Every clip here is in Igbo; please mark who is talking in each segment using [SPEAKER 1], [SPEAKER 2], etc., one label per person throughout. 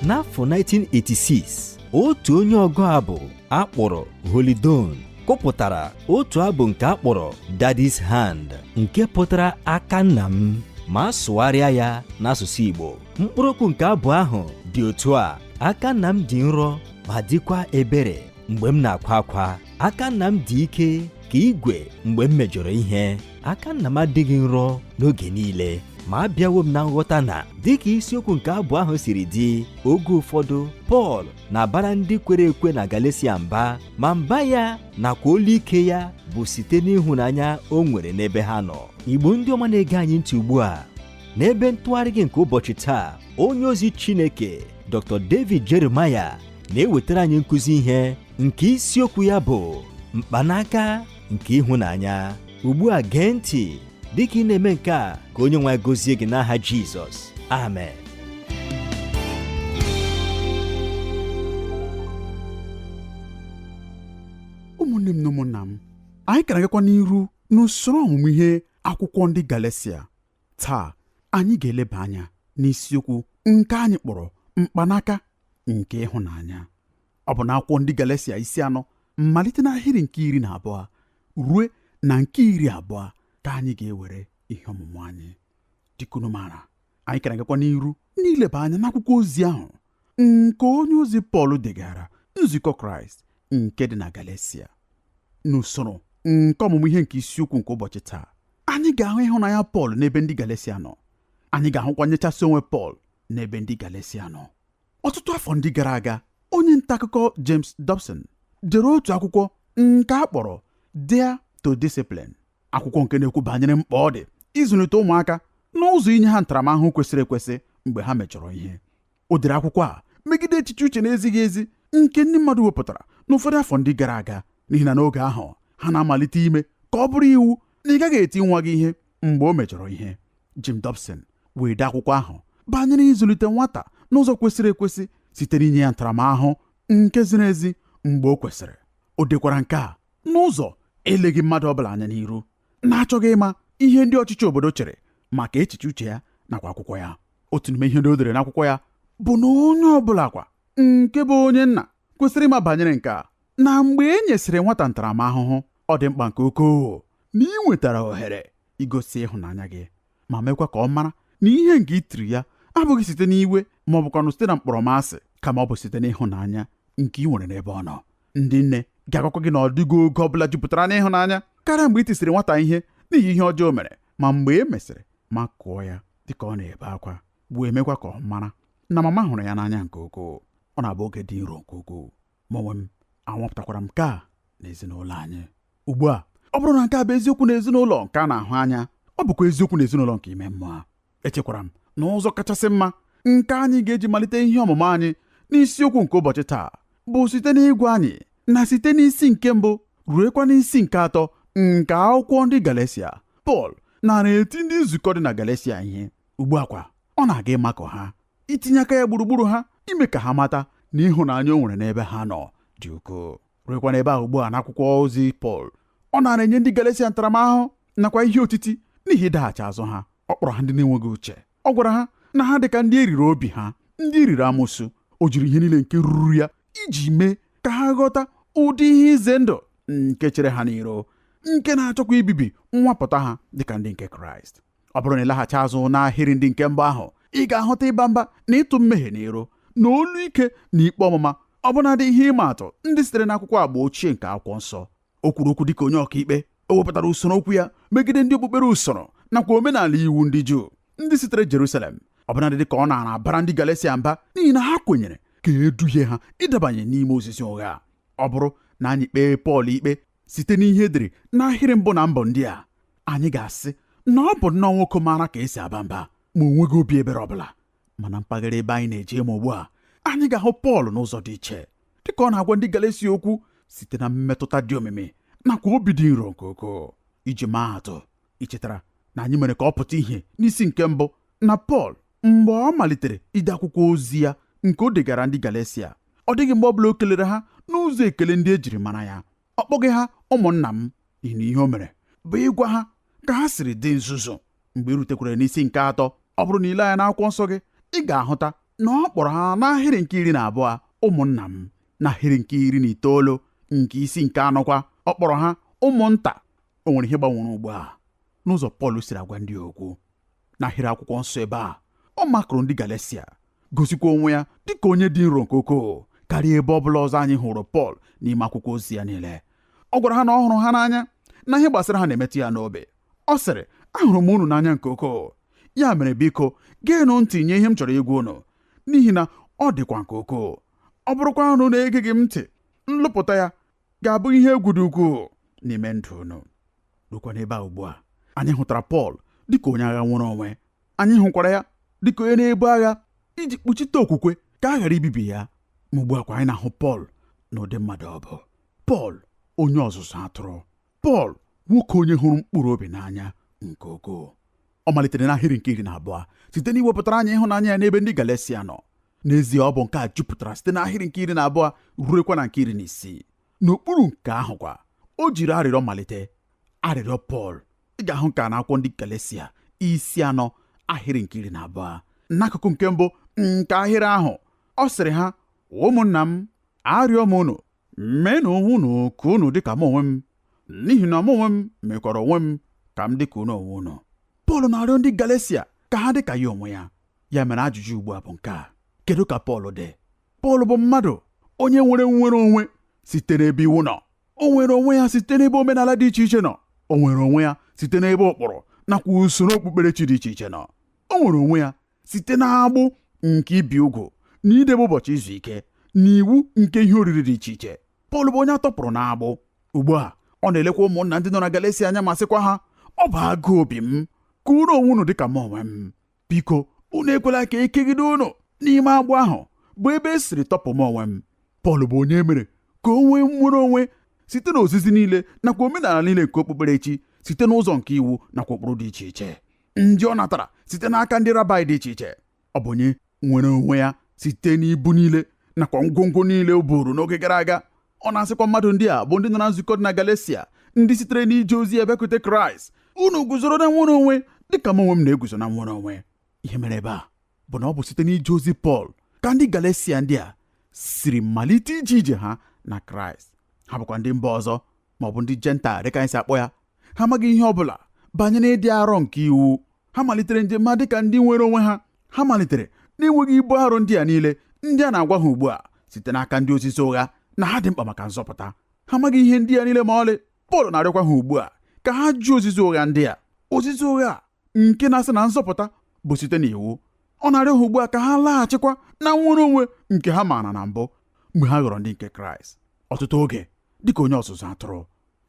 [SPEAKER 1] n'afọ 1986 otu onye ọgụ abụ akpọrọ holly dunn kụpụtara otu abụ nke akpọrọ daddy's hand nke pụtara aka nna m ma a sụgharịa ya n'asụsụ igbo mkpụrụ okwu nke abụ ahụ dị otu a aka nna m dị nrọ ma dịkwa ebere mgbe m na-akwa akwa aka nna m dị ike ka igwe mgbe m mejọrọ ihe aka nna m adịghị nrọ n'oge niile ma abịawo m na nghọta na dịka isiokwu nke abụ ahụ siri dị oge ụfọdụ pọl na-abara ndị kwere ekwe na galatia mba ma mba ya nakwa olu ike ya bụ site n'ịhụnanya o nwere n'ebe ha nọ igbo ndị ọma na-ege anyị ntị ugbu a n'ebe ntụgharị gị nke ụbọchị taa onye ozi chineke dr david jeremiah na-ewetara anyị nkụzi ihe nke isiokwu ya bụ mkpanaka nke ịhụnanya ugbu a gee ntị dịka ị na-eme nke a ka onye nwe anyị gọzie gị n'aha Jizọs
[SPEAKER 2] amen ụmụnne m na ụmụnna m anyị ka na-agakwa n'iru n'usoro ọmụmụ ihe akwụkwọ ndị Galatia taa anyị ga-eleba anya n'isiokwu nke anyị kpọrọ mkpanaka nke ịhụnanya ọ bụ n'akwụkwọ ndị Galatia isi anọ malite n'ahịrị nke iri na abụọ ruo na nke iri abụọ ka anyị ga-ewere ihe ọmụmụ anyị dịka unu maara anyị ka na-agakwa n'iru n'ileba anya n'akwụkwọ ozi ahụ nke onye ozi Pọl degara nzukọ Kraịst nke dị na Galatia n'usoro nke ọmụmụ ihe nke isiokwu nke ụbọchị taa anyị ga-ahụ ịhụnanya Pọl n'ebe ndị Galatia nọ anyị ga-ahụkwa nyechasị onwe Pọl n'ebe ndị Galatia nọ ọtụtụ afọ ndị gara aga onye nta akụkọ James Dobson dere otu akwụkwọ nke a kpọrọ Dare to Discipline akwụkwọ nke na-ekwu banyere mkpa ọ dị ịzụlite ụmụaka n'ụzọ inye ha ntaramahụhụ kwesịrị ekwesị mgbe ha mejọrọ ihe o dere akwụkwọ a megide echiche uche na-ezighị ezi nke ndị mmadụ wepụtara n'ụfọdụ afọ ndị gara aga n'ihi na n'oge ahụ ha na-amalite ime ka ọ bụrụ iwu na ị gaghị eti nwa gị ihe mgbe o mejọrọ ihe Jim Dobson wee dee akwụkwọ ahụ banyere ịzụlite nwata n'ụzọ kwesịrị ekwesị site n'inye ya ntaramahụhụ nke ziri ezi mgbe o kwesịrị o dekwara nke a n'ụzọ eleghị mmadụ ọbụla anya n'iru na-achọghị ịma ihe ndị ọchịchị obodo chere maka echiche uche ya nakwa akwụkwọ ya otu n'ime ihe ndị o dere n'akwụkwọ ya bụ na onye ọbụla kwa nke bụ onye nna kwesịrị ịma banyere nke a na mgbe e nyesịrị nwata ntaramahụhụ ọ dị mkpa nke ukwuu na ị nwetara ohere igosi ịhụnanya gị ma mekwa ka ọ mara na ihe nke i tiri ya abụghị site n'iwe ma ọ bụkwanụ site na mkpọrọmasị kama ọ bụ site n'ịhụnanya nke ị nwere n'ebe ọ nọ ndị nne ga-agwakwa gị na ọ dịghị oge ọ bụla jupụtara n'ịhụnanya karịa mgbe i tisịrị nwata ihe n'ihi ihe ọjọọ o mere ma mgbe e mesịrị makụọ ya dịka ọ na-ebe akwa bụ emekwa ka ọ mara na mama hụrụ ya n'anya nke ukwuu ọ na-abụ oge dị nro nke ukwuu mụ onwe m anwapụtakwara m nke a n'ezinụlọ anyị ugbu a ọ bụrụ na nke a bụ eziokwu n'ezinụlọ nke a na-ahụ anya ọ bụkwa eziokwu n'ezinụlọ nke ime mmụọ echekwara m na ụzọ kachasị mma nke anyị ga-eji malite ihe ọmụmụ anyị n'isiokwu nke ụbọchị taa bụ site n'ịgwa anyị na site n'isi nke mbụ ruekwa n'isi nke atọ nke akwụkwọ ndị Galatia Pọl naara eti ndị nzukọ dị na Galatia ihe ugbu a kwa ọ na-aga ịmakụ ha itinye aka ya gburugburu ha ime ka ha mata na ịhụnanya o nwere n'ebe ha nọ dị ukwuu ruekwa n'ebe ahụ ugbu a n'akwụkwọ ozi Pọl ọ naara enye ndị Galatia ntaramahụhụ nakwa ihe otiti n'ihi ịdaghachi azụ ha ọ kpọrọ ha ndị na-enweghị uche ọ gwara ha na ha dị ka ndị e riri obi ha ndị e riri amusu o jiri ihe niile nke ruru ya iji mee ka ha ghọta ụdị ihe ize ndụ nke chere ha n'iru nke na-achọkwa ibibi nwapụta ha dịka ndị nke kraịst ọ bụrụ na ị laghachi azụ n'ahịrị ndị nke mbụ ahụ ị ga-ahụta ịba mba na ịtụ mmehie n'iru na olu ike na ikpe ọmụma ọbụnadị ihe ịma atụ ndị sitere n'akwụkwọ agba ochie nke akwụkwọ nsọ o kwuru okwu dịka onye ọkaikpe o wepụtara usoro okwu ya megide ndị okpukpere usoro nakwa omenala iwu ndị Juu ndị sitere Jerusalem ọbụnadị dịka ọ naara abara ndị Galesia mba n'ihi na ha kwenyere ka e duhie ha ịdabanye n'ime ozizi ụgha ọ bụrụ na anyị kpee Pọl ikpe site n'ihe e dere n'ahịrị mbụ na mbụ ndị a anyị ga-asị na ọ bụ nnọọ nwoke maara ka e si aba mba ma o nweghị obi ebere ọbụla ma na mpaghara ebe anyị na-eje ịmụ ugbu a anyị ga-ahụ Pọl n'ụzọ dị iche dịka ọ na-agwa ndị Galatia okwu site na mmetụta dị omimi nakwa obi dị nro nke ukwuu iji maa atụ i chetara na anyị mere ka ọ pụta ihe n'isi nke mbụ na Pọl mgbe ọ malitere ide akwụkwọ ozi ya nke o degara ndị Galesia ọ dịghị mgbe ọbụla o kelere ha n'ụzọ ekele ndị e jiri mara ya ọ kpọghị ha ụmụnna m naanị ihe o mere bụ ịgwa ha ka ha siri dị nzuzu mgbe i rutekwara n'isi nke atọ ọ bụrụ na i lee anya n'akwụkwọ nsọ gị ị ga-ahụta na ọ kpọrọ ha n'ahịrị nke iri na abụọ ụmụnna m n'ahịrị nke iri na itoolu nke isi nke anọkwa ọ kpọrọ ha ụmụnta o nwere ihe gbanwere ugbu a n'ụzọ Pọl siri agwa ndị okwu n'ahịrị akwụkwọ nsọ ebe a ọ makụrụ ndị Galesia gosikwa onwe ya dịka onye dị nro nke ukwuu karịa ebe ọ bụla ọzọ anyị hụrụ Pọl n'ime akwụkwọ ozi ya niile ọ gwara ha na ọ hụrụ ha n'anya na ihe gbasara ha na-emetụ ya n'obi ọ sịrị ahụrụ m unu n'anya nke ukwuu ya mere biko geenụ ntị nye ihe m chọrọ ịgwa unu n'ihi na ọ dịkwa nke ukwuu ọ bụrụkwa unu na-egeghị m ntị nlụpụta ya ga-abụ ihe egwu dị ukwuu n'ime ndụ unu rukwa n'ebe a ugbu a anyị hụtara Pọl dịka onye agha nnwere onwe anyị hụkwara ya dịka onye na-ebu agha iji kpuchite okwukwe ka a ghara ibibi ya ma ugbu a kwa anyị na-ahụ Pọl n'ụdị mmadụ ọ bụ Pọl onye ọzụzụ atụrụ Pọl nwoke onye hụrụ mkpụrụ obi n'anya nke ukwuu ọ malitere n'ahịrị nke iri na abụọ site n'iwepụtara anyị ịhụnanya ya n'ebe ndị Galesia nọ n'ezie ọ bụ nke a jupụtara site n'ahịrị nke iri na abụọ ruekwa na nke iri na isii n'okpuru nke ahụ kwa o jiri arịrịọ malite arịrịọ Pọl ị ga-ahụ nke a n'akwụkwọ ndị Galesia isi anọ ahịrị nke iri na abụọ n'akụkụ nke mbụ nke ahịrị ahụ ọ sịrị ha ụmụnna m arịọ m unu meenụ onwe unu ka unu dị ka mụ onwe m n'ihi na mụ onwe m mekwara onwe m ka m dị ka unu onwe unu Pọl na-arịọ ndị Galesia ka ha dị ka ya onwe ya ya mere ajụjụ ugbu a bụ nke a kedu ka Pọl dị Pọl bụ mmadụ onye nwere nnwere onwe site n'ebe iwu nọ o nwere onwe ya site n'ebe omenala dị iche iche nọ o nwere onwe ya site n'ebe ụkpụrụ nakwa usoro okpukperechi dị iche iche nọ o nwere onwe ya site n'agbụ nke ibi ugwu na idebe ụbọchị izu ike na iwu nke ihe oriri dị iche iche Pọl bụ onye a tọpụrụ n'agbụ ugbu a ọ na-elekwa ụmụnna ndị nọ na Galesia anya ma sịkwa ha ọ bụ agụụ obi m ka unu onwe unu dịka mụ onwe m biko unu ekwela ka e kegide unu n'ime agbụ ahụ bụ ebe e siri tọpụ m onwe m Pọl bụ onye e mere ka o nwee nnwere onwe site n'ozizi niile nakwa omenala niile nke okpukperechi site n'ụzọ nke iwu nakwa ụkpụrụ dị iche iche ndị ọ natara site n'aka ndị rabaị dị iche iche ọ bụ onye nwere onwe ya site n'ibu niile nakwa ngwongwo niile o buru n'oge gara aga ọ na-asịkwa mmadụ ndị a bụ ndị nọ na nzukọ dị na Galesia ndị sitere n'ije ozi ya bịakwute Kraịst unu guzoro na nnwere onwe dịka m onwe m na-eguzo na nnwere onwe ihe mere ebe a bụ na ọ bụ site n'ije ozi Pọl ka ndị Galesia ndị a siri malite ije ije ha na Kraịst ha bụkwa ndị mba ọzọ ma ọ bụ ndị Jentaịl dịka anyị si akpọ ya ha amaghị ihe ọ bụla banyere ịdị arọ nke iwu ha malitere njem ha dịka ndị nwere onwe ha ha malitere n'enweghị ibu arụ ndị a niile ndị a na-agwa ha ugbu a site n'aka ndị ozizi ụgha na ha dị mkpa maka nzọpụta ha amaghị ihe ndị a niile ma ọlị Pọl na-arịọkwa ha ugbu a ka ha jụ ozizi ụgha ndị a ozizi ụgha nke na-asị na nzọpụta bụ site n'iwu ọ na-arịọ ha ugbu a ka ha laghachikwa na nnwere onwe nke ha maara na mbụ mgbe ha ghọrọ ndị nke kraịst ọtụtụ oge dịka onye ọzụzụ atụrụ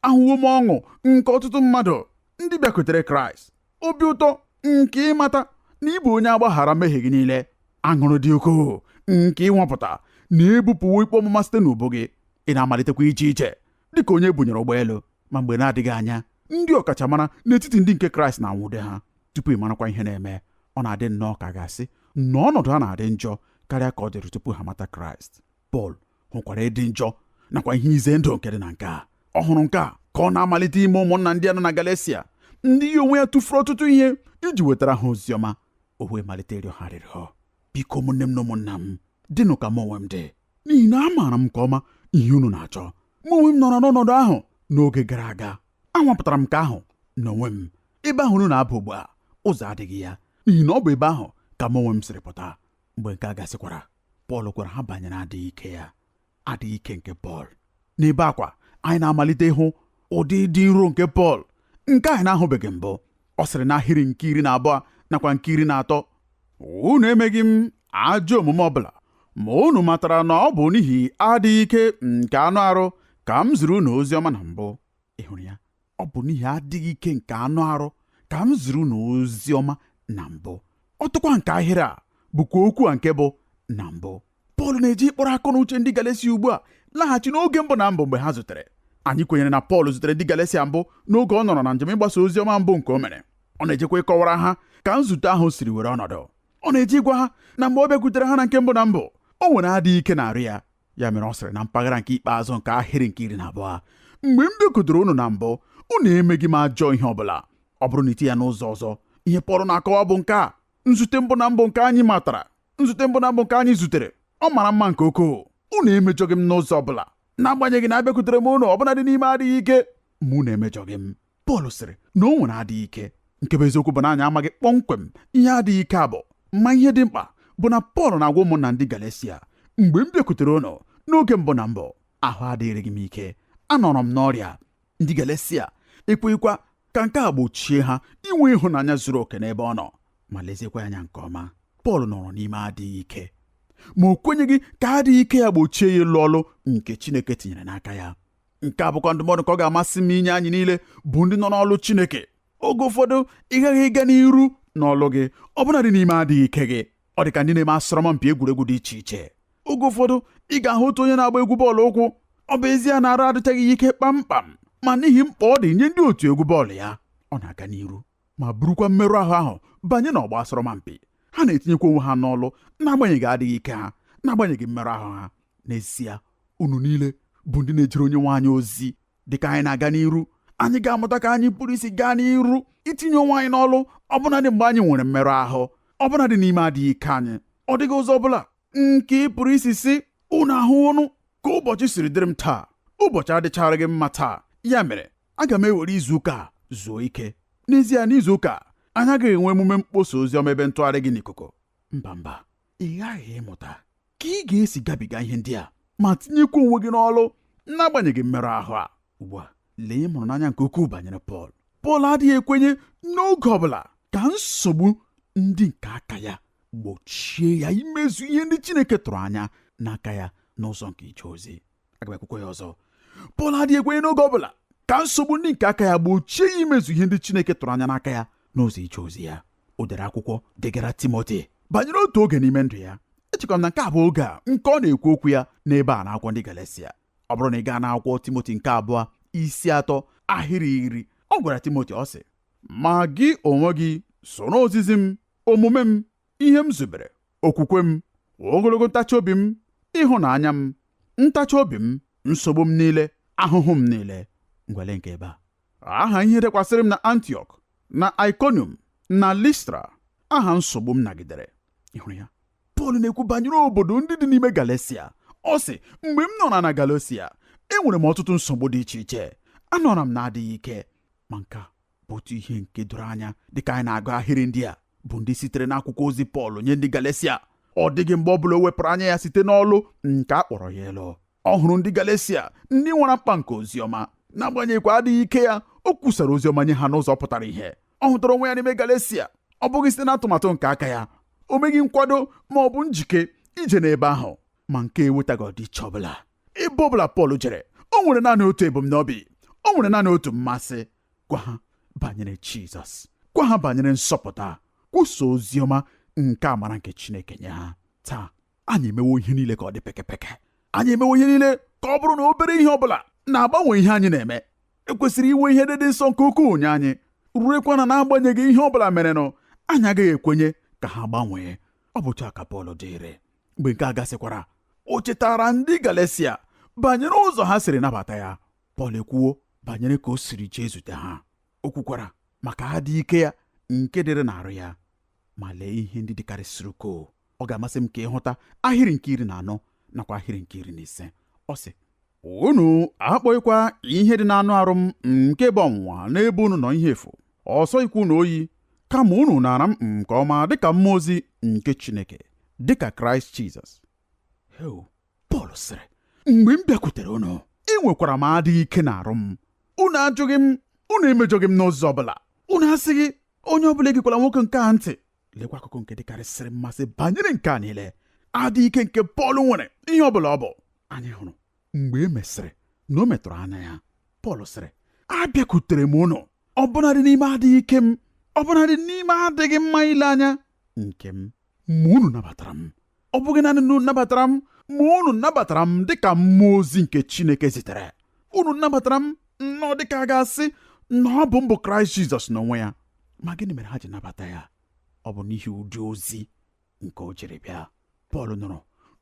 [SPEAKER 2] ahụwo m ọṅụ nke ọtụtụ mmadụ ndị bịakwutere kraịst obi ụtọ nke ịmata na ị bụ onye agbaghara mmehie gị niile aṅụrụ dị ukwuu nke ịnwapụta na ebupụwo ikpe ọmụma site n'ubu gị ị na-amalitekwa iche iche dịka onye bunyere ụgbọelu ma mgbe na-adịghị anya ndị ọkachamara n'etiti ndị nke kraịst na-anwụde ha tupu ị marakwa ihe na-eme ọ na-adị nnọọ ka a ga-asị na ọnọdụ ha na-adị njọ karịa ka ọ dịrị tupu ha mata kraịst pọl hụkwara ịdị njọ nakwa ihe ize ndụ nke dị na nke a ọ hụrụ nke a ka ọ na-amalite ime ụmụnna ndị a nọ na galesia ndị ya onwe ya tụfuru ọtụtụ ihe iji wetara ha ozi ọma o wee malite ịrịọ ha arịrịọ biko ụmụnne m na ụmụnna m dịnụ ka m onwe m dị n'ihi na amaara m nke ọma ihe unu na-achọ mụ onwe m nọrọ n'ọnọdụ ahụ n'oge gara aga anwapụtara m nke ahụ n'onwe m ebe ahụ unu na-aba ugbu a ụzọ adịghị ya n'ihi na ọ bụ ebe ahụ ka m onwe m siri pụta mgbe nke a gasịkwara Pọl gwara ha banyere adịghị ike ya adịghị ike nke Pọl n'ebe a kwa anyị na-amalite ịhụ ụdị dị nro nke Pọl nke anyị na-ahụbeghị mbụ ọ sịrị n'ahịrị nke iri na abụọ nakwa nke iri na atọ unu emeghị m ajọ omume ọbụla ma unu matara na ọ bụ n'ihi adịghị ike nke anụ arụ ka m ziri unu ozi ọma na mbụ ị hụrụ ya ọ bụ n'ihi adịghị ike nke anụ arụ ka m ziri unu ozi ọma na mbụ ọtụkwa nke ahịrị a bụkwa okwu a nke bụ na mbụ Pọl na-eje ịkpọrọ akọ na uche ndị Galesia ugbu a laghachi n'oge mbụ na mbụ mgbe ha zutere anyị kwenyere na Pọl zutere ndị Galesia mbụ n'oge ọ nọrọ na njem ịgbasa ozi ọma mbụ nke o mere ọ na-ejekwa ịkọwara ha ka nzute ahụ siri were ọnọdụ ọ na-eje ịgwa ha na mgbe ọ bịakwutere ha na nke mbụ na mbụ o nwere adịghị ike n'arụ ya ya mere ọ sịrị na mpaghara nke ikpeazụ nke ahịrị nke iri na abụọ mgbe m bịakwutere unu na mbụ unu emeghị m ajọ ihe ọbụla ọ bụrụ na iti ya n'ụzọ ọzọ ihe Pọl na-akọwa bụ nke a nzute mbụ na mbụ nke anyị matara nzute mbụ na mbụ nke anyị zutere ọ mara mma nke ukwuu unu emejọghị m n'ụzọ ọ bụla n'agbanyeghị na abịakwutere m unu ọbụnadị n'ime adịghị ike ma unu emejọghị m Pọl sịrị na o nwere adịghị ike nke bụ eziokwu bụ na anyị amaghị kpọmkwem ihe adịghị ike a bụ ma ihe dị mkpa bụ na Pọl na-agwa ụmụnna ndị Galesia mgbe m bịakwutere unu n'oge mbụ na mbụ ahụ adịghịrị m ike anọrọ m n'ọrịa ndị Galesia ekweghịkwa ka nke a gbochie ha inwe ịhụnanya zuru oke n'ebe ọ nọ ma leziekwa anya nke ọma Pọl nọrọ n'ime adịghị ike ma o kwenyeghị ka adịghị ike ya gbochie ya ịlụ ọlụ nke Chineke tinyere n'aka ya nke a bụkwa ndụmọdụ ka ọ ga-amasị m inye anyị niile bụ ndị nọ n'ọlụ Chineke oge ụfọdụ ị ghaghị ịga n'iru n'ọlụ gị ọbụnadị n'ime adịghị ike gị ọ dị ka ndị na-eme asọrọmpi egwuregwu dị iche iche oge ụfọdụ ị ga-ahụ otu onye na-agba egwu bọọlụ ụkwụ ọ bụ ezie na arụ adịchaghị ya ike kpamkpam ma n'ihi mkpa ọ dị nye ndị otu egwu bọọlụ ya ọ na-aga n'iru ma burukwa mmerụ ahụ ahụ banye n'ọgba asọrọmpi ha na-etinyekwa onwe ha n'ọlụ n'agbanyeghị adịghị ike ha n'agbanyeghị mmerụ ahụ ha n'ezie unu niile bụ ndị na-ejere onyenwe anyị ozi dịka anyị na-aga n'iru anyị ga-amụta ka anyị pụrụ isi gaa n'iru itinye onwe anyị n'ọlụ ọbụnadị mgbe anyị nwere mmerụ ahụ ọbụnadị n'ime adịghị ike anyị ọ dịghị ụzọ ọbụla nke ị pụrụ isi sị unu ahụwo nụ ka ụbọchị siri dịrị m taa ụbọchị adịcharaghị mma taa ya mere aga m ewere izu ụka a zuo ike n'ezie n'izu ụka anyị agaghị enwe emume mkpọsa ozi ọma ebe ntụgharị gị n'ikuku mba mba ị ghaghị ịmụta ka ị ga-esi gabiga ihe ndị a ma tinyekwa onwe gị n'ọlụ n'agbanyeghị mmerụ ahụ a ugbu a lee ihe m hụrụ n'anya nke ukwuu banyere Pọl Pọl adịghị ekwenye n'oge ọ bụla ka nsogbu ndị nke aka ya gbochie ya imezu ihe ndị Chineke tụrụ anya n'aka ya n'ụzọ nke ije ozi aga m ekwukwa ya ọzọ Pọl adịghị ekwenye n'oge ọ bụla ka nsogbu ndị nke aka ya gbochie ya imezu ihe ndị Chineke tụrụ anya n'aka ya n'ụzọ ije ozi ya o dere akwụkwọ degara Timoti banyere otu oge n'ime ndụ ya echekwa m na nke a bụ oge a nke ọ na-ekwu okwu ya n'ebe a n'akwụkwọ ndị Galesia ọ bụrụ na ị gaa n'akwụkwọ Timoti nke abụọ isi atọ ahịrị iri ọ gwara Timoti ọ sị ma gị onwe gị soro ozizi m omume m ihe m zubere okwukwe m ogologo ntachi obi m ịhụnanya m ntachi obi m nsogbu m niile ahụhụ m niile ngwa lee nke ebe a aha ihe dakwasịrị m na antiọk na Iconium na Listra aha nsogbu m nagidere ị hụrụ ya Pọl na-ekwu banyere obodo ndị dị n'ime Galesia ọ sị mgbe m nọra na Galesia enwere m ọtụtụ nsogbu dị iche iche anọra m n'adịghị ike ma nke a bụ otu ihe nke doro anya dịka anyị na-agụ ahịrị ndị a bụ ndị sitere n'akwụkwọ ozi Pọl nye ndị Galesia ọ dịghị mgbe ọ bụla o wepụrụ anya ya site n'ọlụ nke a kpọrọ ya ịlụ ọ hụrụ ndị Galesia ndị nwara mkpa nke oziọma n'agbanyeghịkwa adịghị ike ya o kwusara oziọma nye ha n'ụzọ pụtara ihe ọ hụtara onwe ya n'ime Galesia ọ bụghị site n'atụmatụ nke aka ya o meghị nkwado ma ọ bụ njike ije n'ebe ahụ ma nke a ewetaghị ọdịiche ọbụla ebe ọbụla Pọl jere o nwere naanị otu ebumnobi o nwere naanị otu mmasị gwa ha banyere jizọs gwa ha banyere nzọpụta kwusa ozi ọma nke amara nke chineke nye ha taa anyị emewo ihe niile ka ọ dị pekepeke anyị emewo ihe niile ka ọ bụrụ na obere ihe ọ bụla na-agbanwe ihe anyị na-eme e kwesịrị inwe ihe ndị dị nsọ nke ukwuu nye anyị ruekwa na n'agbanyeghị ihe ọ bụla merenụ anyị agaghị ekwenye ka ha gbanwee ọ bụ otu a ka Pọl dịrị mgbe nke a gasịkwara o chetaara ndị Galesia banyere ụzọ ha siri nabata ya Pọl ekwuwo banyere ka o siri jee zute ha o kwukwara maka adịghị ike ya nke dịrị n'arụ ya ma lee ihe ndị dịkarịsịrị ukwuu ọ ga-amasị m ka ị hụta ahịrị nke iri na anọ nakwa ahịrị nke iri na ise ọ sị unu akpọghịkwa ihe dị n'anụ arụ m nke bụ ọnwụnwa n'ebe unu nọ ihe efu ọ sọghịkwa unu oyi kama unu naara m nke ọma dịka mmụọ ozi nke Chineke dịka Kraịst Jizọs Pọl sịrị mgbe m bịakwutere unu enwekwara m adịghị ike n'arụ m unu ajụghị m unu emejọghị m n'ụzọ ọbụla unu asịghị onye ọbụla egekwala nwoke nke a ntị lekwa akụkụ nke dịkarịsịrị mmasị banyere nke a niile adịghị ike nke Pọl nwere ihe ọbụla ọ bụ anyị hụrụ mgbe e mesịrị na o metụrụ anya ya Pọl sịrị abịakwutere m unu ọbụnadị n'ime adịghị ike m ọbụnadị n'ime adịghị mma ile anya nke m ma unu nabatara m ọ bụghị naanị na unu nabatara m ma unu nabatara m dịka mmụọ ozi nke Chineke zitere unu nabatara m nnọọ dịka a ga-asị na ọ bụ m bụ Kraịst Jizọs n'onwe ya ma gịnị mere ha ji nabata ya ọ bụ n'ihi ụdị ozi nke o jiri bịa pọl nọrọ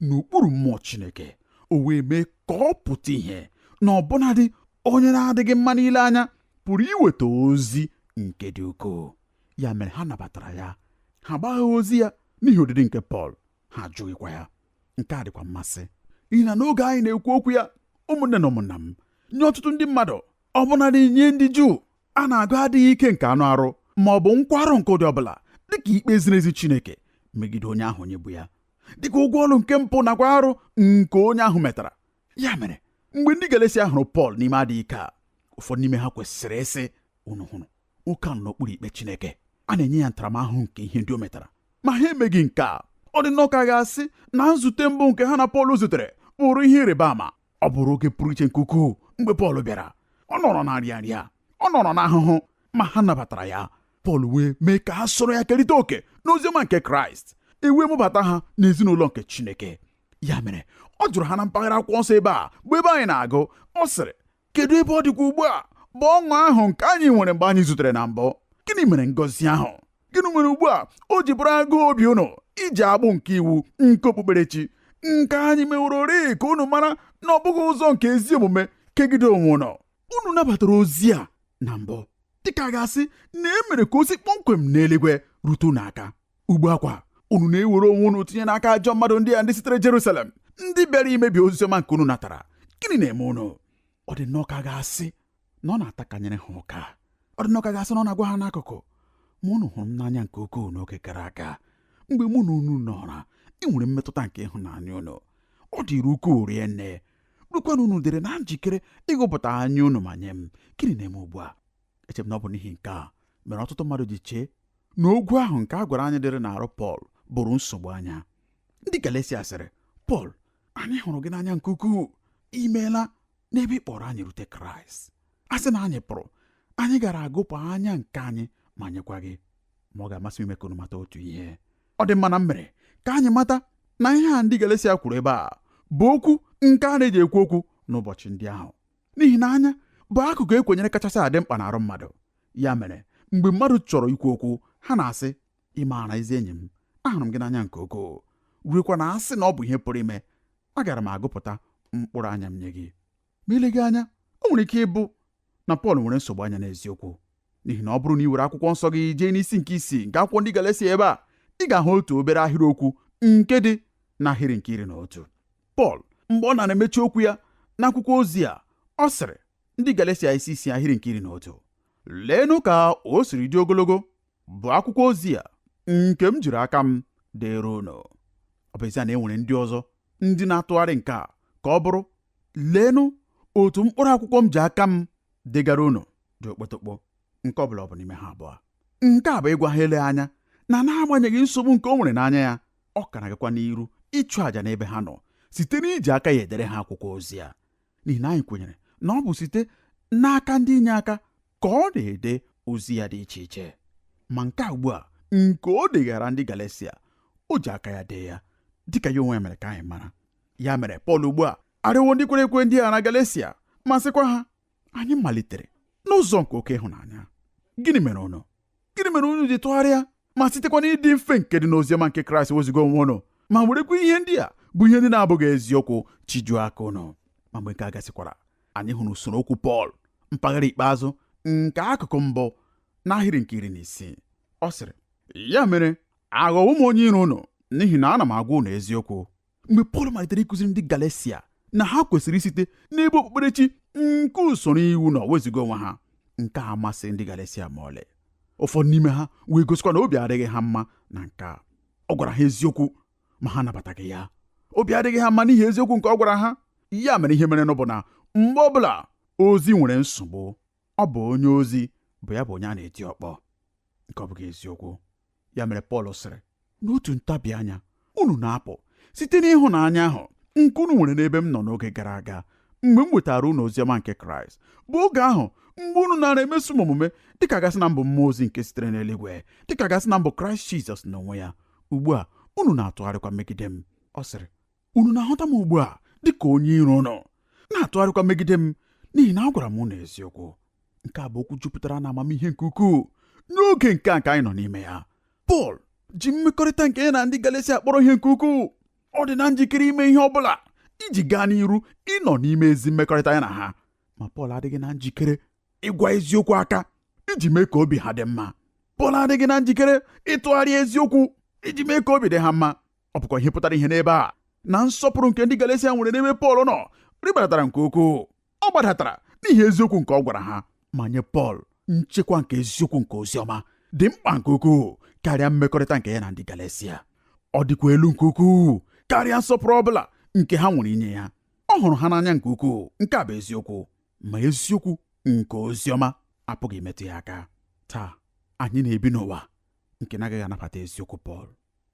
[SPEAKER 2] n'okpuru mmụọ chineke o wee mee ka ọ pụta ihe na ọbụnadị onye na-adịghị mma n'ile anya pụrụ iweta ozi nke dị ukwuu ya mere ha nabatara ya ha gbagha ozi ya n'ihi ọdịdị nke pọl ha ajụghịkwa ya nke a dịkwa mmasị n'ihi na n'oge anyị na-ekwu okwu ya ụmụnne na ụmụnna m nye ọtụtụ ndị mmadụ ọbụnadị nye ndị juu a na-agụ adịghị ike nke anụ arụ ma ọ bụ nkwarụ nke ụdị ọbụla dịka ikpe ziri ezi Chineke megide onye ahụ onye bụ ya dịka ụgwọ ọrụ nke mpụ nakwa arụ nke onye ahụ metara ya mere mgbe ndị Galeshia hụrụ Pọl n'ime adịghị ike a ụfọdụ n'ime ha kwesịrị ịsị unu hụrụ nwoke ahụ n'okpuru ikpe Chineke a na-enye ya ntaramahụhụ nke ihe ndị o metara ma ha emeghị nke a ọ dị nnọọ ka a ga-asị na nzute mbụ nke ha na Pọl zutere bụrụ ihe ịrịba ama ọ bụrụ oge pụrụ iche nke ukwuu mgbe Pọl bịara ọ nọrọ na nrịa nrịa ọ nọrọ n'ahụhụ ma ha nabatara ya Pọl wee mee ka ha soro ya kerịta oke n'oziọma nke Kraịst e wee mụbata ha n'ezinụlọ nke Chineke ya mere ọ jụrụ ha na mpaghara akwụkwọ nsọ ebe a bụ ebe anyị na-agụ ọ sịrị kedu ebe ọ dịkwa ugbu a bụ ọṅụ ahụ nke anyị nwere mgbe anyị zutere na mbụ gịnị mere ngọzi ahụ gịnị mere ugbu a o ji bụrụ agụụ obi unu iji agbụ nke iwu nke okpukperechi nke anyị mewororị ka unu mara na ọ bụghị ụzọ nke ezi omume kegide onwe unu unu nabatara ozi a na mbụ dịka a ga-asị na e mere ka o si kpọmkwem n'eluigwe rute unu aka ugbu a kwa unu na-ewere onwe unu tinye n'aka ajọ mmadụ ndị a ndị sitere Jerusalem ndị bịara imebi oziọma nke unu natara gịnị na-eme unu ọ dị nnọọ ka a ga-asị na ọ na-atakanyere ha ụka ọ dị nnọọ ka a ga-asị na ọ na-agwa ha n'akụkụ ma unu hụrụ m n'anya nke ukwuu n'oge gara aga mgbe mụ na unu nọra enwere m mmetụta nke ịhụnanya unu ọ dịrị ukwuu rie nne ruekwa na unu dịrị na njikere ịghụpụta anya unu ma nye m gịnị na-eme ugbu a eche m na ọ bụ n'ihi nke a mere ọtụtụ mmadụ ji chee na ogwu ahụ nke a gwara anyị dịrị n'arụ Pọl bụrụ nsogbu anya ndị Galesia sịrị Pọl anyị hụrụ gị n'anya nke ukwuu i meela n'ebe ị kpọrọ anyị rute Kraịst a sị na anyị pụrụ anyị gara aghụpụ anya nke anyị ma nyekwa gị ma ọ ga-amasị m ime ka unu mata otu ihe ọ dị mma na m mere ka anyị mata na ihe a ndị Galesia kwuru ebe a bụ okwu nke a na-eji ekwu okwu n'ụbọchị ndị ahụ n'ihi na anya bụ akụkụ e kwenyere kachasị adị mkpa n'arụ mmadụ ya mere mgbe mmadụ chọrọ ikwu okwu ha na-asị ị maara ezi enyi m ahụrụ m gị n'anya nke ukwuu ruekwa na a sị na ọ bụ ihe pụrụ ime agara m aghụpụta mkpụrụ anya m nye gị ma eleghị anya o nwere ike ịbụ na Pọl nwere nsogbu anya n'eziokwu n'ihi na ọ bụrụ na i were akwụkwọ nsọ gị jee n'isi nke isii nke akwụkwọ ndị Galesia ebe a ị ga-ahụ otu obere ahịrị okwu nke dị n'ahịrị nke iri na otu Pọl mgbe ọ na-emechi okwu ya n'akwụkwọ ozi a ọ sịrị ndị Galesia isi isii ahịrị nke iri na otu leenụ ka o siri dị ogologo bụ akwụkwọ ozi a nke m jiri aka m deere unu ọ bụ ezie na e nwere ndị ọzọ ndị na-atụgharị nke a ka ọ bụrụ leenụ otu mkpụrụ akwụkwọ m ji aka m degara unu dị okpotokpo nke ọ bụla ọ bụ n'ime ha abụọ nke a bụ ịgwa ha ele anya na n'agbanyeghị nsogbu nke o nwere n'anya ya ọ ka na-agakwa n'iru ịchụ àjà n'ebe ha nọ site n'iji aka ya edere ha akwụkwọ ozi a n'ihi na anyị kwenyere na ọ bụ site n'aka ndị inyeaka ka ọ na-ede ozi ya dị iche iche ma nke a ugbu a nke o degaara ndị Galesia o ji aka ya dee ya dịka ya onwe ya mere ka anyị mara ya mere Pọl ugbu a arịọwo ndị kwere ekwe ndị a na Galesia ma sịkwa ha anyị malitere n'ụzọ nke oke ịhụnanya gịnị mere unu gịnị mere unu ji tụgharịa ma sitekwa n'ịdị mfe nke dị n'oziọma nke Kraịst wezuga onwe unu ma werekwa ihe ndị a bụ ihe ndị na-abụghị eziokwu chijuo aka unu ma mgbe nke a gasịkwara anyị hụrụ usoro okwu Pọl mpaghara ikpeazụ nke akụkụ mbụ n'ahịrị nke iri na isii ọ sịrị ya mere aghọwo m onye iro unu n'ihi na ana m agwa unu eziokwu mgbe Pọl malitere ịkụziri ndị Galesia na ha kwesịrị isite n'ebe okpukperechi nke usoro iwu nọ wezuga onwe ha nke a amasịghị ndị Galesia ma ọlị ụfọdụ n'ime ha wee gosikwa na obi adịghị ha mma na nke a ọ gwara ha eziokwu ma ha anabataghị ya obi adịghị ha mma n'ihi eziokwu nke ọ gwara ha ya mere ihe merenụ bụ na mgbe ọbụla ozi nwere nsogbu ọ bụ onye ozi bụ ya bụ onye a na-eti ọkpọ nke ọ bụghị eziokwu ya mere Pọl sịrị n'otu ntabi anya unu na-apụ site n'ịhụnanya ahụ nke unu nwere n'ebe m nọ n'oge gara aga mgbe m wetara unu oziọma nke Kraịst bụ oge ahụ mgbe unu nara emeso m omume dịka a ga-asị na m bụ mmụọ ozi nke sitere n'eluigwe dịka a ga-asị na m bụ Kraịst Jizọs n'onwe ya ugbu a unu na-atụgharịkwa megide m ọ sịrị unu na-ahụta m ugbu a dị ka onye iro unu na-atụgharịkwa megide m n'ihi na agwara m unu eziokwu nke a bụ okwu jupụtara na amamihe nke ukwuu n'oge nke a nke anyị nọ n'ime ya Pọl ji mmekọrịta nke ya na ndị Galatia kpọrọ ihe nke ukwuu ọ dị na njikere ime ihe ọ bụla iji gaa n'iru ịnọ n'ime ezi mmekọrịta ya na ha ma Pọl adịghị na njikere ịgwa eziokwu aka iji mee ka obi ha dị mma Pọl adịghị na njikere ịtụgharị eziokwu iji mee ka obi dị ha mma ọ bụkwa ihe pụtara ihe n'ebe a na nsọpụrụ nke ndị Galatia nwere n'ebe Pọl nọ rị gbadatara nke ukwuu ọ gbadatara n'ihi eziokwu nke ọ gwara ha ma nye Pọl nchekwa nke eziokwu nke ozi ọma dị mkpa nke ukwuu karịa mmekọrịta nke ya na ndị Galatia ọ dịkwa elu nke ukwuu karịa nsọpụrụ ọ bụla nke ha nwere inye ya ọ hụrụ ha n'anya nke ukwuu nke a bụ eziokwu ma eziokwu nke ozi ọma apụghị imetụ ya aka taa anyị na-ebi n'ụwa nke na-agaghị anabata eziokwu Pọl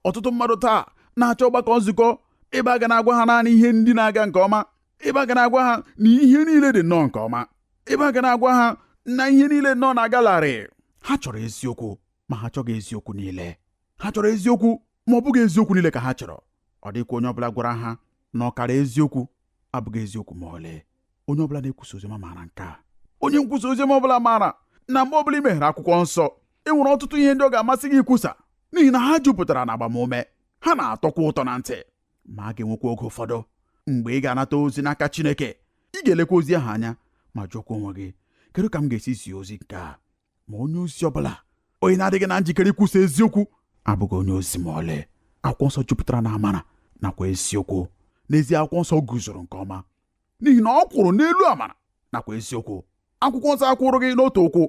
[SPEAKER 2] ọtụtụ mmadụ taa na-achọ ọgbakọ nzukọ ebe a ga na-agwa ha naanị ihe ndị na-aga nke ọma ebe a ga na-agwa ha na ihe niile dị nnọọ nke ọma ebe a ga na-agwa ha na ihe niile nnọọ na-aga larịị ha chọrọ eziokwu ma ha achọghị eziokwu niile ha chọrọ eziokwu ma ọ bụghị eziokwu niile ka ha chọrọ ọ dịkwa onye ọbụla gwara ha na ọkara eziokwu abụghị eziokwu ma ọlị onye ọbụla na-ekwusa oziọma maara nke a onye nkwusa oziọma ọbụla maara na mgbe ọbụla i meghere akwụkwọ nsọ e nwere ọtụtụ ihe ndị ọ ga-amasị gị ikwusa n'ihi na ha jupụtara na agbamume ha na-atọkwa ụtọ na ntị ma a ga-enwekwa oge ụfọdụ mgbe ị ga-anata ozi n'aka Chineke ị ga-elekwa ozi ahụ anya ma jụọkwa onwe gị kedu ka m ga-esi zie ozi nke a ma onye ozi ọbụla onye na-adịghị na njikere ikwusa eziokwu abụghị onye ozi ma ọlị akwụkwọ nsọ jupụtara na amara nakwa eziokwu n'ezie akwụkwọ nsọ guzoro nke ọma n'ihi na ọ kwụrụ n'elu amara nakwa eziokwu akwụkwọ nsọ akwụrụghị n'otu ụkwụ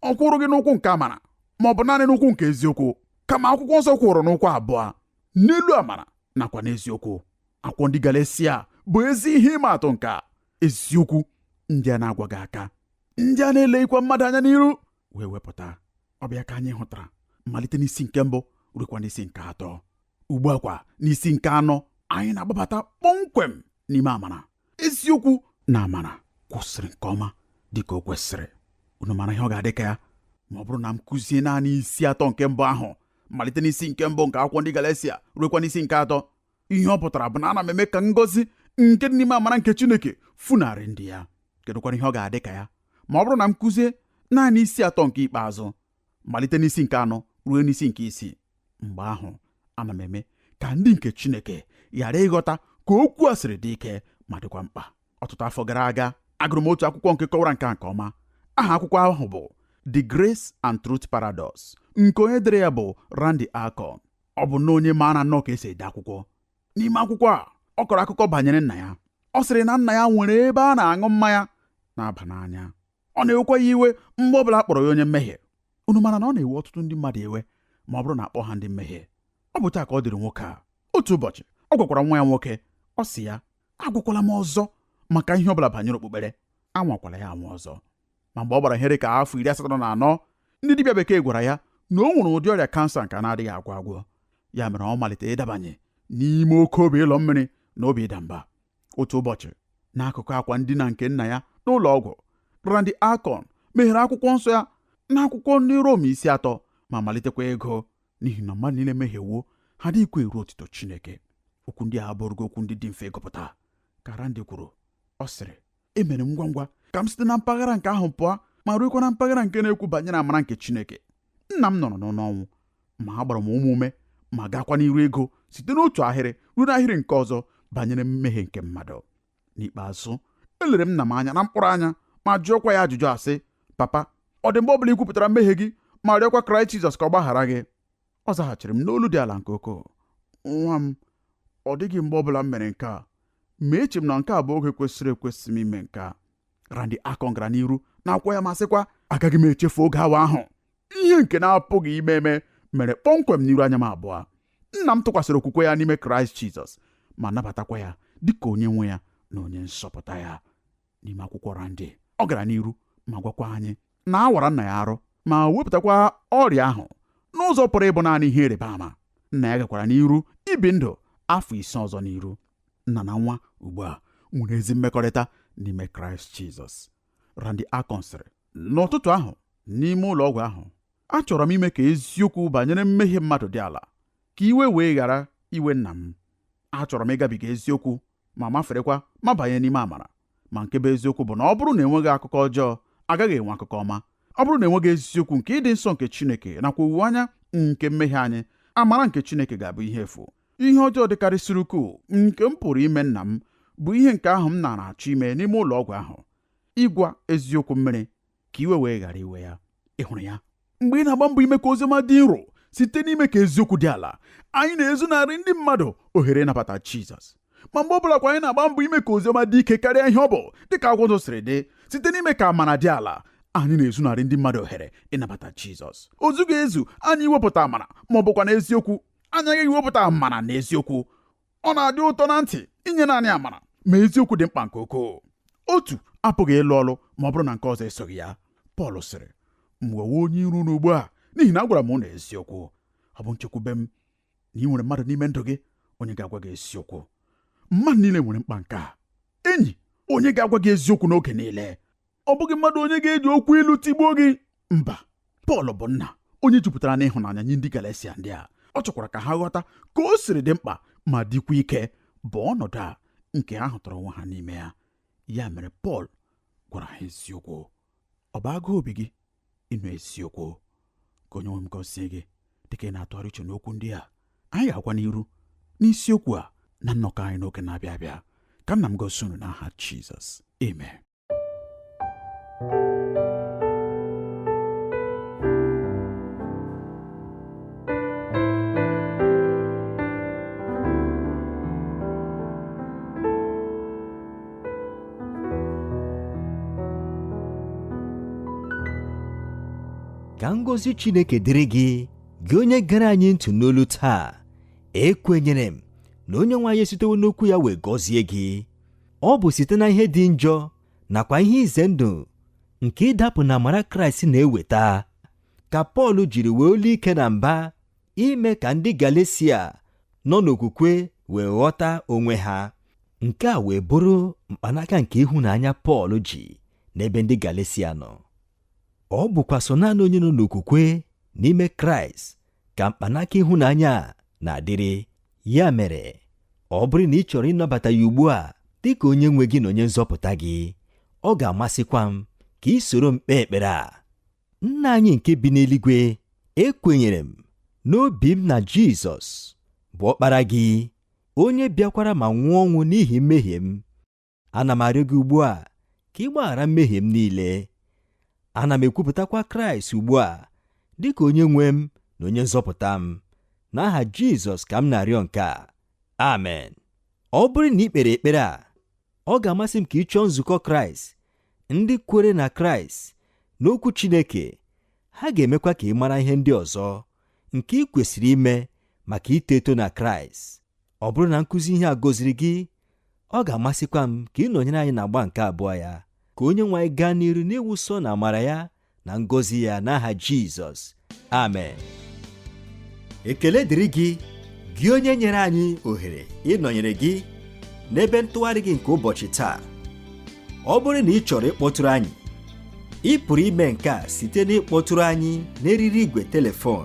[SPEAKER 2] ọ kwụrụghị n'ụkwụ nke amara ma ọ bụ naanị n'ụkwụ nke eziokwu kama akwụkwọ nsọ kwụrụ n'ụkwụ abụọ n'elu amara nakwa n'eziokwu akwụkwọ ndị Galatia bụ ezi ihe ịma atụ nke eziokwu ndị a na-agwaghị aka ndị a na-eleghịkwa mmadụ anya n'iru wee wepụta ọ bụ ya ka anyị hụtara malite n'isi nke mbụ ruekwa n'isi nke atọ ugbu a kwa n'isi nke anọ anyị na-agbabata kpọmkwem n'ime amara eziokwu na amara kwụsịrị nke ọma dị ka o kwesịrị unu mara ihe ọ ga-adị ka ya ma ọ bụrụ na m kụzie naanị isi atọ nke mbụ ahụ malite n'isi nke mbụ nke akwụkwọ ndị Galatia ruekwa n'isi nke atọ ihe ọ pụtara bụ na ana m eme ka ngọzi nke dị n'ime amara nke Chineke funarị ndị ya kedụkwara ihe ọ ga-adị ka ya ma ọ bụrụ na m kụzie naanị isi atọ nke ikpeazụ malite n'isi nke anọ ruo n'isi nke isii mgbe ahụ ana m eme ka ndị nke Chineke ghara ịghọta ka okwu a siri dị ike ma dịkwa mkpa ọtụtụ afọ gara aga agụrụ m otu akwụkwọ nke kọwara nke a nke ọma aha akwụkwọ ahụ bụ The Grace and Truth Paradox nke onye dere ya bụ Randy Alcorn ọ bụ na onye maara nnọọ ka esi ede akwụkwọ n'ime akwụkwọ a ọ kọrọ akụkọ banyere nna ya ọ sịrị na nna ya nwere ebe a na-aṅụ mmanya na-aba n'anya ọ na-ewekwa ya iwe mgbe ọbụla a kpọrọ ya onye mmehie unu mara na ọ na-ewe ọtụtụ ndị mmadụ iwe ma ọ bụrụ na a kpọọ ha ndị mmehie ọ bụ otu a ka ọ dịrị nwoke a otu ụbọchị ọ gwakwara nwa ya nwoke ọ sị ya agwakwala m ọzọ maka ihe ọbụla banyere okpukpere anwakwala ya anwa ọzọ ma mgbe ọ gbara ihe dị ka afọ iri asatọ na anọ ndị dibịa bekee gwara ya na o nwere ụdị ọrịa kansa nke a na-adịghị agwọ agwọ ya mere ọ malite ịdabanye n'ime oke obi ịlọ mmiri na obi ịda mba otu ụbọchị n'akụkụ akwa ndina nke nna ya n'ụlọ ọgwụ Randy Alcorn meghere akwụkwọ nsọ ya n'akwụkwọ ndị Rom isi atọ ma malitekwa ịgụ n'ihi na mmadụ niile emehiewo ha adịghịkwa eru otito Chineke okwu ndị a abụghị okwu ndị dị mfe ịgụpụta ka Randy kwuru ọ sịrị emere m ngwa ngwa ka m site na mpaghara nke ahụ pụọ ma ruekwa na mpaghara nke na-ekwu banyere amara nke Chineke nna m nọrọ n'ọnụ ọnwụ ma agbara m onwe m ume ma gaakwa n'iru ịgụ site n'otu ahịrị ruo n'ahịrị nke ọzọ banyere mmehie nke mmadụ n'ikpeazụ elere m nna m anya na mkpụrụ anya ma jụọkwa ya ajụjụ a sị papa ọ dị mgbe ọ bụla i kwupụtara mmehie gị ma rịọkwa kraịst jizọs ka ọ gbaghara gị ọ zaghachiri m n'olu dị ala nke ukwuu nwa m ọ dịghị mgbe ọbụla m mere nke a ma eche m na nke a bụ oge kwesịrị ekwesị m ime nke a Randy Alcorn gara n'iru n'akwụkwọ ya ma sịkwa agaghị m echefu oge awa ahụ ihe nke na-apụghị ime eme mere kpọmkwem n'iru anya m abụọ nna m tụkwasịrị okwukwe ya n'ime Kraịst Jizọs ma nabatakwa ya dịka onye nwe ya na onye nzọpụta ya n'ime akwụkwọ Randy ọ gara n'iru ma gwakwa anyị na a wara nna ya arụ ma wepụtakwa ọrịa ahụ n'ụzọ pụrụ ịbụ naanị ihe ịrịba ama nna ya gakwara n'iru ibi ndụ afọ ise ọzọ n'iru nna na nwa ugbu a nwere ezi mmekọrịta n'ime kraịst jizọs Randy Alcorn sịrị n'ụtụtụ ahụ n'ime ụlọ ọgwụ ahụ achọrọ m ime ka eziokwu banyere mmehie mmadụ dị ala ka iwe wee ghara iwe nna m achọrọ m ịgabiga eziokwu ma maferekwa ma banye n'ime amara ma nke bụ eziokwu bụ na ọ bụrụ na enweghị akụkọ ọjọọ agaghị enwe akụkọ ọma ọ bụrụ na enweghị eziokwu nke ịdị nsọ nke Chineke nakwa owuwe anya nke mmehie anyị amara nke Chineke ga-abụ ihe efu ihe ọjọọ dịkarịsịrị ukwuu nke m pụrụ ime nna m bụ ihe nke ahụ m nara achọ ime n'ime ụlọ ọgwụ ahụ ịgwa eziokwu mmiri ka iwe wee ghara iwe ya ị hụrụ ya mgbe ị na-agba mbọ ime ka oziọma dị nro site n'ime ka eziokwu dị ala anyị na-ezunarị ndị mmadụ ohere ịnabata Jizọs ma mgbe ọ bụla kwa anyị na-agba mbọ ime ka oziọma dị ike karịa ihe ọ bụ dịka akwụkwọ nsọ siri dị site n'ime ka amara dị ala anyị na-ezunarị ndị mmadụ ohere ịnabata Jizọs o zughị ezu anyị iwepụta amara ma ọ bụkwa na eziokwu anyị aghaghị iwepụta amara na eziokwu ọ na-adị ụtọ na ntị inye naanị amara ma eziokwu dị mkpa nke ukwuu otu apụghị ịlụ ọlụ ma ọ bụrụ na nke ọzọ esoghị ya Pọl sịrị m ghọwo onye iro unu ugbu a n'ihi na agwara m unu eziokwu ọ bụ nchekwube m na ị nwere mmadụ n'ime ndụ gị onye ga-agwa gị eziokwu mmadụ niile nwere mkpa nke a enyi onye ga-agwa gị eziokwu n'oge niile ọ bụghị mmadụ onye ga-eji okwu ilu tigbuo gị mba Pọl bụ nna onye jupụtara n'ịhụnanya nye ndị Galesia ndị a ọ chọkwara ka ha ghọta ka o siri dị mkpa ma dịkwa ike bụ ọnọdụ a nke ha hụtara onwe ha n'ime ya ya mere Pọl gwara ha eziokwu ọ bụ agụụ obi gị ịnụ eziokwu ka onye nwe m gọzie gị dịka ị na-atụgharị uche n'okwu ndị a anyị ga-agakwa n'iru n'isiokwu a na nnọkọ anyị n'oge na-abịa abịa ka nna m gọzie unu n'aha Jizọs amen
[SPEAKER 1] ka ngọzi chineke dịrị gị gị onye gere anyị ntị n'olu taa ekwenyere m na onye nwe anyị esitewo n'okwu ya wee gọzie gị ọ bụ site na ihe dị njọ nakwa ihe ize ndụ nke ịdapụ na amara kraịst na-eweta ka pọl jiri wee olu ike na mba ime ka ndị galesia nọ n'okwukwe wee ghọta onwe ha nke a wee bụrụ mkpanaka nke ịhụnanya pọl ji n'ebe ndị galesia nọ ọ bụkwa sọ naanị onye nọ n'okwukwe n'ime kraịst ka mkpanaka ịhụnanya a na-adịrị Ya mere, ọ bụrụ na ị chọrọ ịnabata ya ugbu a dị ka onye nwe gị na onye nzọpụta gị, ọ ga-amasịkwa m ka ị soro m kpee ekpere a. Nna anyị nke bi n'eluigwe, ekwenyere m n'obi m na Jizọs bụ ọkpara gị, onye bịakwara ma nwụọ ọnwụ n'ihi mmehie m. ana m arịọ gị ugbu a ka ị gbaghara mmehie m niile ana m ekwupụtakwa kraịst ugbu a dị ka onye nwe m na onye nzọpụta m n'aha jizọs ka m na-arịọ nke a amen ọ bụrụ na ị kpere ekpere a ọ ga-amasị m ka ị chọọ nzukọ kraịst ndị kwere na kraịst n'okwu chineke ha ga-emekwa ka ị mara ihe ndị ọzọ nke ị kwesịrị ime maka ito eto na kraịst ọ bụrụ na nkụzi ihe a gọziri gị ọ ga-amasịkwa m ka ị nọnyere anyị n'agba nke abụọ ya ka onye nwe anyị gaa n'iru n'ịwụsa ụnụ amara ya na ngọzi ya n'aha jizọs amen ekele dịrị gị gị onye nyere anyị ohere ịnọnyere gị n'ebe ntụgharị gị nke ụbọchị taa ọ bụrụ na ị chọrọ ịkpọtụrụ anyị ị pụrụ ime nke a site n'ịkpọtụrụ anyị n'eriri igwe telefon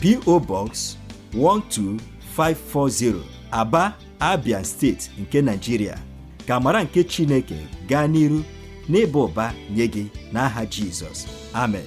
[SPEAKER 1] PO Box 12540 Aba Abia steeti nke Nigeria ka amara nke Chineke gaa n'iru n'ịba ụba nye gị n'aha Jizọs amen